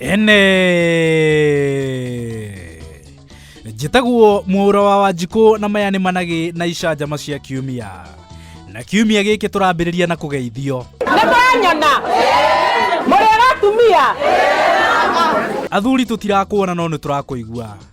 ene njĩtagwo mũũra wa wanjikũ na maya nĩ managĩ na icanjama cia kiumia na kiumia gĩkĩ tũrambĩrĩria na kũgeithio nĩ mwanyona mũrĩ atumia athuri tũtirakuona no nĩ tũrakũigua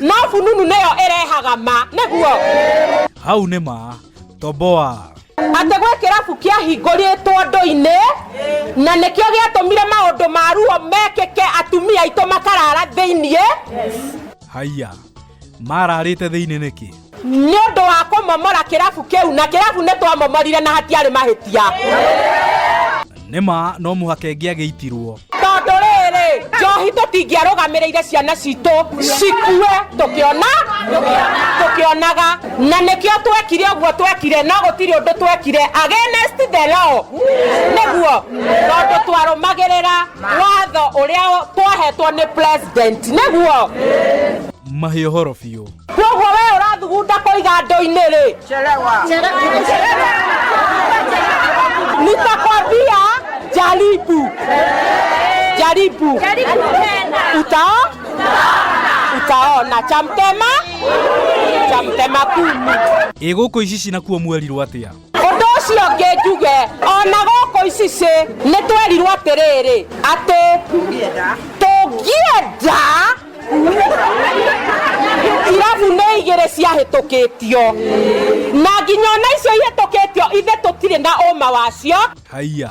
No fununu nĩyo ĩrehaga ma nĩguo hau nĩ ma toboa atĩ gwĩ kĩrabu kĩahingũrĩtwo ndũ-inĩ na nĩkĩo gĩatũmire maũndũ ma ruo mekĩke atumia aitũ makarara thĩiniĩ haiya mararĩte thĩinĩ nĩkĩ nĩ ũndũ wa kũmomora kĩrabu kĩu na kĩrabu nĩ twamomorire na hatiarĩ mahĩtia nĩ ma no mũhaka ĩngĩ agĩitirwo tondũ rĩrĩ njohi tũtingĩarũgamĩrĩire ciana citũ cikue tũkĩona tũkĩonaga na nĩkĩo twekire ũguo twekire no gũtirĩ ũndũ twekire against the law nĩguo tondũ twarũmagĩrĩra watho ũrĩa twahetwo nĩ president nĩguo mahĩ ũhoro biũ Kwoguo we ũrathugunda kũiga ndo-inĩ rĩ? Chelewa. Nitakwambia jaribu. Jaribu. Utao? Utaona cha mtema? Cha mtema kumi. Ĩ gũkũ ici cinakuo mwerirwo atĩa? ũndũ ũcio ũngĩ njuge o na gũkũ icicĩ nĩ twerirwo atĩrĩrĩ atĩ tũngĩenda irabu nĩ igĩrĩ ciahĩtũkĩtio na nginya ona icio ihĩtũkĩtio ithe tũtirĩ na ũma wacio haiya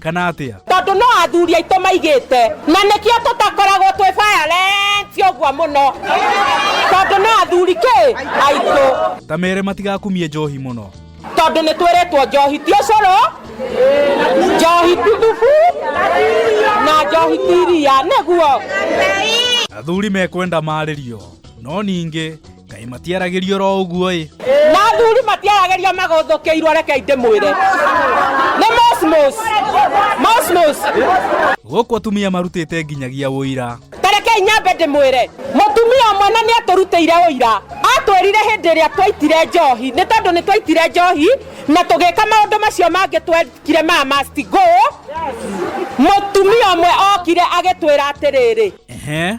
kana atia tondu no athuri aitå maigite na nikio tutakoragwo twi violent uguo muno tondu no athuri ki aitå ta mere matigakumie njohi muno tondu ni twiritwo njohi ti ucuru njohi ti thubu na njohi ti iria niguo athuri mekwenda marĩrio no ningĩ kaĩ matiaragĩrio ro ũguo ĩ mathuri matiaragĩria magothũkĩirwo rekei ndĩmwĩre nĩ mosmos mosmos gũkũ atumia marutĩte nginyagia ũira tarekei nyambe ndĩmwĩre mũtumia ũmwe na nĩ atũrutĩire ũira atwĩrire hĩndĩ ĩrĩa twaitire njohi nĩ tondũ nĩ twaitire njohi na tũgĩka maũndũ macio mangĩ twekire ma must go mũtumia ũmwe okire agĩtwĩra atĩrĩrĩ ehe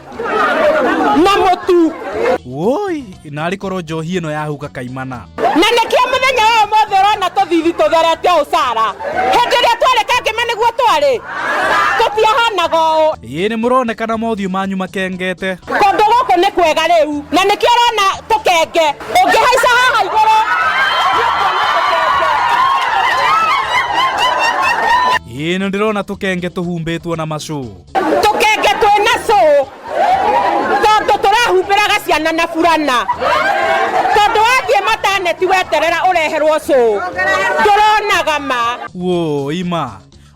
na mũtu woi narĩ korwo njohi ĩno yahuka kaimana na nĩkĩo mũthenya ũyũ mothe ũrona tũthithi tũtherete ũũ sara hĩndĩ ĩrĩa twarĩ kangĩma nĩguo twarĩ tũtiahanaga ũũ ĩĩ nĩ mũronekana mothiũ manyu makengete kũndũ gũkũ nĩ kwega rĩu na nĩkĩo ũrona tũkenge ũngĩhaica haha igũrũ ĩĩ nĩ ndĩrona tũkenge tũhumbĩtwo na macũ tũkenge twĩ na cũ tondũ tũrahumbĩraga ciana na burana tondũ wathiĩ mataneti weterera ũreherwo cũ ndũronaga ma wo ima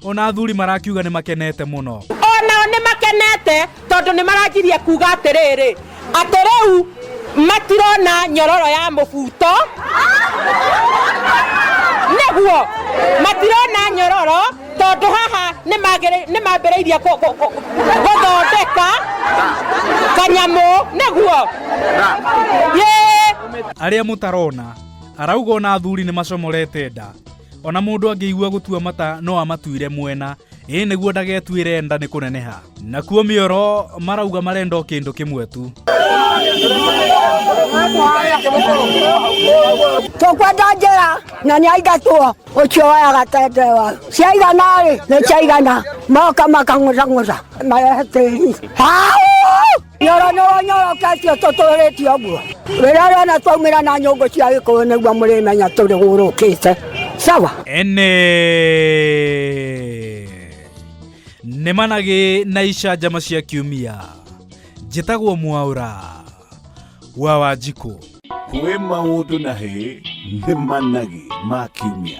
ona athuri marakiuga nĩ makenete mũno onao nĩ makenete tondũ nĩ maranjirie kuga atĩrĩrĩ atĩ rĩu matirona nyororo ya mũbuto nĩguo matirona nyororo tondũ haha nĩ mambĩrĩirie gũthondeka kanyamũ nĩguo arĩa mũtarona arauga ona athuri nĩ macomorete nda ona mũndũ angĩigua gũtua mata no amatuire mwena ĩĩ nĩguo ndagetuĩre nda nĩ kũneneha nakuo mĩoro marauga marenda o kĩndũ kĩmwe tu tũkwenda njĩra na nĩ aingatwo ũcio wayaga tendewa ciaigana rĩ nĩ ciaigana moka makang'ũcang'ũca marehe tĩri nyoro nyoro nyoro kacio tũtũrĩtie ũguo wĩra ũrĩa ona twaumĩra na nyũngũ cia gĩkũyũ nĩguo mũrĩmenya tũrĩ gũrũkĩte sawa ene nĩ managĩ na icanjama cia kiumia njĩtagwo mwaũra wa wanjikũ kwĩ maũndũ na hĩ nĩ managĩ ma kiumia